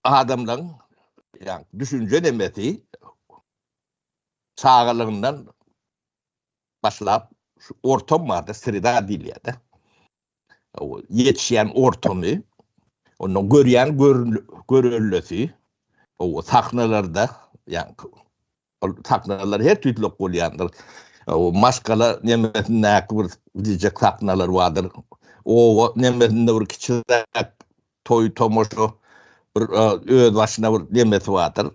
adamlaryň ýa düşünje nemesi çagalygyndan başlap şu ortam barda sreda diýilýär-de. O ýetişýän ortamy, ondan görýän görüllesi, o sahnalarda ýa Ol sahnalar her tüýtlük bolýandyr. Maşgala nemesindäki bir diýjek sahnalar bardyr. Oba nemesinde bir kiçiräk toý tomaşa bir öz başyna bir nemesi bardyr.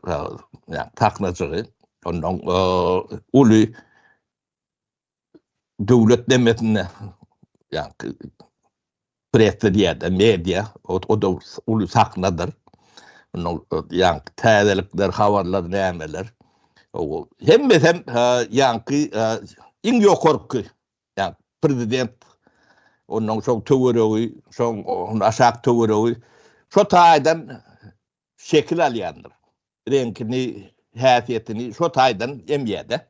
Ýa sahnajygy. Ondan uly döwlet demesinde ýa-da presse diýýärler, media, o-da uly sahnadyr. Munuň ýaňky täzelikler, habarlar nämeler. Hemmesi hem ýaňky iň ýokarky, ýa-da prezident, ondan soň töweregi, soň aşak töweregi, şo taýdan şekil alýandyr. Reňkini, häsiýetini şo taýdan emýär-de.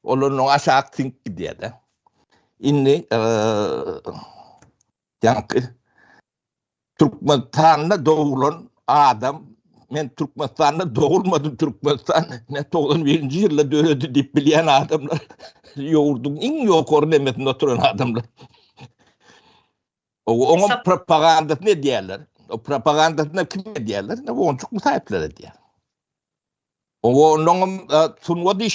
Olar onuň aşak siňip gidýär-de. Indi ýaňky Türkmenistanda doglan adam men Türkmenistanda dogulmadym, Türkmenistan ne 91-nji ýylda döredi diýip bilýän adamlar ýurduň iň ýokary nemesinde oturan adamlar. Oňa propagandasyny edýärler. O propagandasyny kim edýärler? Onçuk bu saýtlar edýär. Oňa ondan sungat